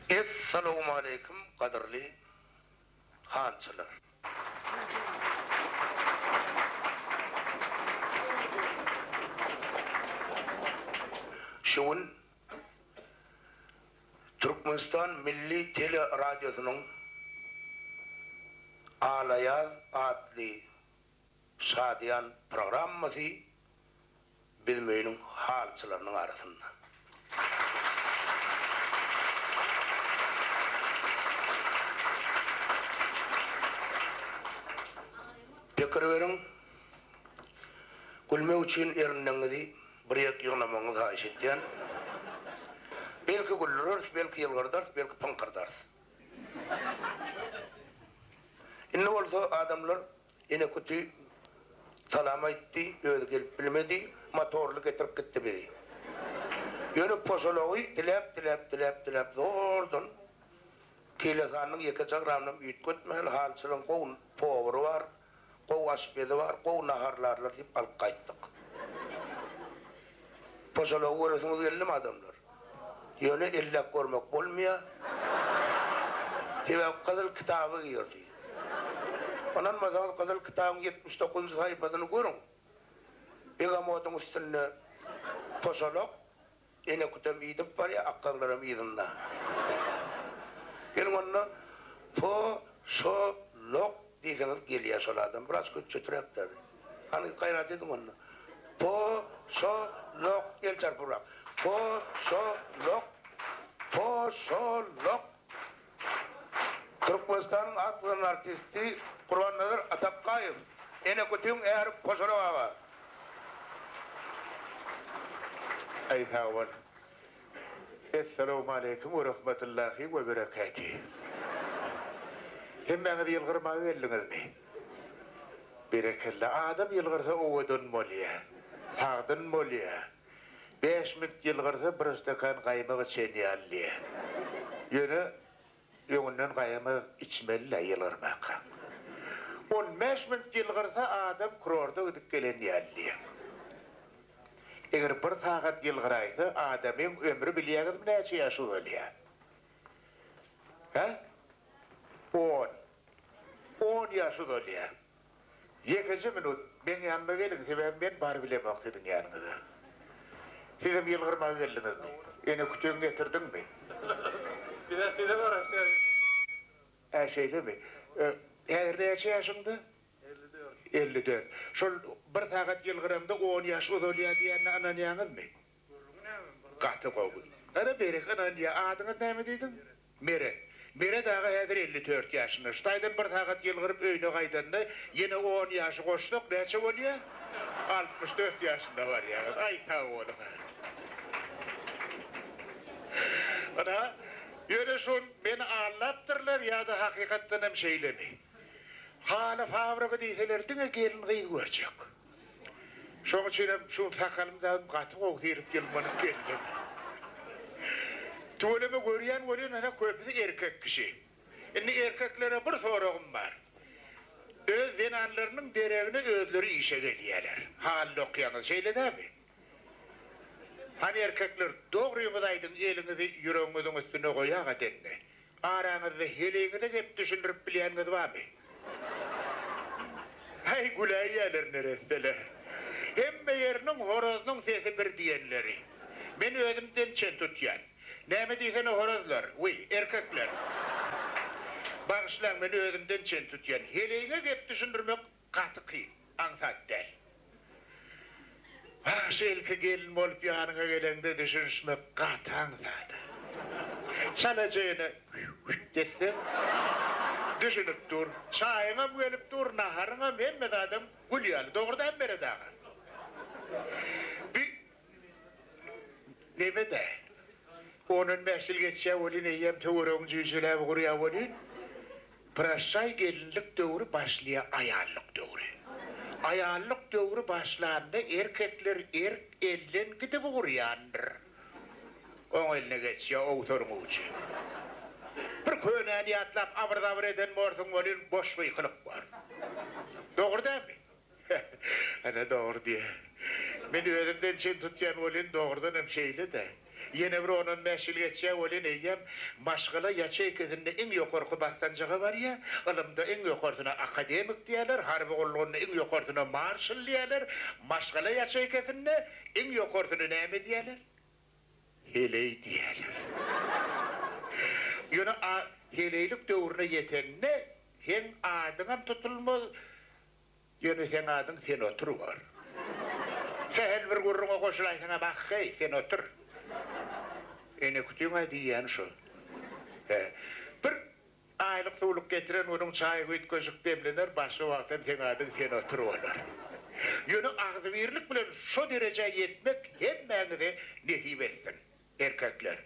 Essalowmaleýkim gadyrly hançylar. Şu gün Türkmenistan milli teleradiosynyň Alaýaz atly şadyýan programmasy biziň öýüniň halyçylarynyň arasynda. Pikir beriň, gülmek üçin erindegiňizi Bir ýek ýygnamagyňyzy haýyş etýän. Belki güldüreris, belki ýylgyrdarys, belki pyňkyrdarys. Indi bolsa adamlar Enekuti salam aýtdy, özi gelip bilmedi, motorly getirip gitdi bizi. Ýöne poşalagy diläp, diläp, diläp, diläp zordan Keýlesanyň ýeke jagramynam üýtgetmän, halçylaryň gowy powary bar. Gowy aşpezi bar, gowy naharlarlar diýip alyp gaýtdyk. Poşalagy göresiňiz geldimi adamlar? Ýöne elläp görmek bolmaýar. Sebäbi gyzyl kitaba girdi. Ynanmasaňyz gyzyl kitabyň ýetmiş dokuzynjy saýpasyny görüň. Begamodyň üstünde poşalak, Enekütem idip barýa, akgaglaram yzynda. Geliň onda, po, şo, lok diýseňiz gelýä şol adam. Wraç köçjeträk däl. Hany, gaýrat ediň onda. Po, şo, lok, el çarpybrak. Po, şo, lok. Po, şo, lok. Türkmenistanyň at gazanan artisti Gurbannazar Atakgaýew Enekütüň äri Koşarak aga Aý sagbol. Essalawmaleýkim we rahmatullahi we bereketi. Hemmäňiz ýylgyrmaga geldiňizmi? Berekella. Adam ýylgyrsa owadan bolýar. Sagdyn bolýar. Bäş minut ýylgyrsa bir stakan gaýmak içen ýaly diýýä. Ýöne öňünden gaýamak içmeli-le ýylgyrmaka. On bäş minut ýylgyrsa adam kurorda gidip gelen ýaly diýýä. Eger bir sagat ýylgyraýsa adamyň ömri bilýäňizmi näçe ýaş uzalýa? Hä? On. On ýaş uzalýa. Ýekeje minut meň ýanyma geliň, sebäbi men bar bilemok siziň ýanyňyza. Sizem ýylgyrmaga geldiňizmi? Ene kütegini getirdiňmi? Bizem size garaşýarys. Hä, şeýlemi? Häzir näçe ýaşyňda? Elli dört. Elli dört. Şol bir sagat ýylgyraňda on ýaş uzalýar diýenine ynanýaňyzmy? Gürrüňi näme bir zat. Gaty gowy. Ana berek ynan diýä adyňyz näme diýdiň? Mere. Mere dagy häzir elli dört ýaşynda. Şu taýdan bir sagat ýylgyryp öýüne gaýdanda ýene on ýaşy goşsak näçe bolýa? Altmyş dört ýaşynda barýarys. Aý sag boluň. Ana ýöne şun meni aldapdyrlar ýa-da hakykatdanam şeýlemi? Haly fabrygy diýseler diňe gelin gyz görjek. Şoň üçinem şu sakalym dagym gaty gowy syrip ýylmanyp geldim. Tüweleme görýän welin ene köpüsi erkek kişi. Indi erkeklere bir soragym bar. Öz zenanlarynyň deregine özleri işe gelýäler. Halyda okýaňyz şeýle dämi? Hany erkekler dogryňyzy aýdyň eliňizi ýüregiňiziň üstüne goýaga deňňi. Araňyzda heleýiňize gep düşündirip bilýänňiz barmy? Aý güläýýäler neresseler. Hemme ýeriniň horazynyň sesi bir diýenleri. Men özüm dem çen tutýan. Näme diýsene horazlar, wiý, erkekler. Bagyşlaň men özümden çen tutýan. Heleýiňe gep düşündirmek Gaty kyn, aňsat däl. Bagşy ilki gelin bolup ýanyňa geleňde düşünişmek gaty aňsada. Çalaja ene hüt etseň düşünip dur. Çaýyňam gelip dur, naharyňam hemme zadam gül ýaly. Dogry däl Meret aga? Bi Neme-de, on-on bäş ýyl geçýär welin, eýýäm töweregiň jüýjeläbi gurýar welin, Praşşaý gelinlik döwri başlaýar aýallyk döwri. Aýallyk döwri başlanda erkekler erk elden gidip ugurýandyr. Oň eline geçýär owsaryň ujy. Bir könäni ýatlap abyr-zabyr eden borsuň welin, boş gykylyk bor. Dogry dälmi? Ana dogry diýýä. Men özümden çen tutýan welin, dogrudan hem şeýle-dä. Ýene bir on-on bäş ýyl geçýär welin, eýýäm maşgala ýaçeýkasynda iň ýokarky basgançaga barýar, ylymda iň ýokarysyna akademik diýýärler, harby gullugynda iň ýokarysyna marşal diýýärler, maşgala ýaçeýkasynda iň ýokarysyna näme diýýärler? Heleý diýýärler. Ýöne a heleýlik döwrüne ýetende, seň adyňam tutulmaz, Ýöne seň adyň Sen otur bor. Sähel bir gürrüňe goşulaýsaňam ahheý, sen otur. Enekütüň-ä diýýäni şo. Hä. Bir aýlyk-suwluk getiren günüň çaýy üýtgeşik demlener, başga wagt hem seň adyň Sen otur bolar. Ýöne agzybirlik bilen şo derejä ýetmek hemmäňize nesip etsin. erkekler.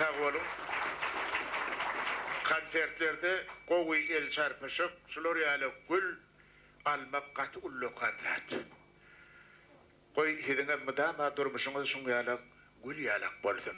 Sag boluň. Konsertlerde gowy el çarpyşyk, şular ýaly gül almak gaty ullakan zat. Goý, siziňem mydama durmuşyňyz şuň ýalak gül ýalak bolsun.